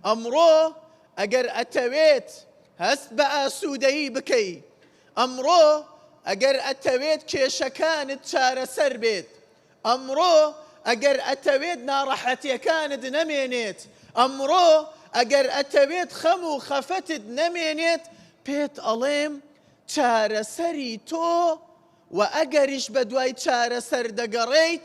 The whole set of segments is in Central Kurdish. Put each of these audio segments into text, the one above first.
ئەمڕۆ ئەگەر ئەتەوێت هەست بە ئاسوودەیی بکەی، ئەمڕۆ ئەگەر ئەتەوێت کێشەکانت چارەسەر بێت، ئەمڕۆ ئەگەر ئەتەوێت ناڕەحەتیەکانت نەمێنێت، ئەمڕۆ ئەگەر ئەتەوێت خەم و خەفەتت نەمێنێت، پێت ئەڵێم چارەسەری تۆ و ئەگەریش بەدوای چارەسەر دەگەڕێیت،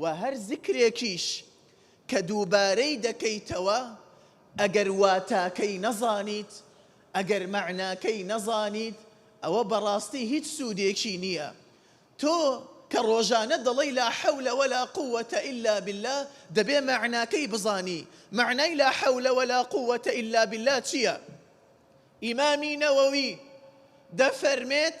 وە هەر زیکرێکیش کە دووبارەی دەکەیتەوە ئەگەر واتاکەی نەزانیت ئەگەر مەعناکەی نەزانیت ئەوە بەڕاستی هیچ سوودێکی نیە تۆ کە ڕۆژانە دەڵێی لا حەولە ولا قووە الا باللە دەبێ مەعناکەی بزانی مەعنای لا حەولە ولا قووە الا باللە چیە ئیمامی نەوەوی دەفەرمێت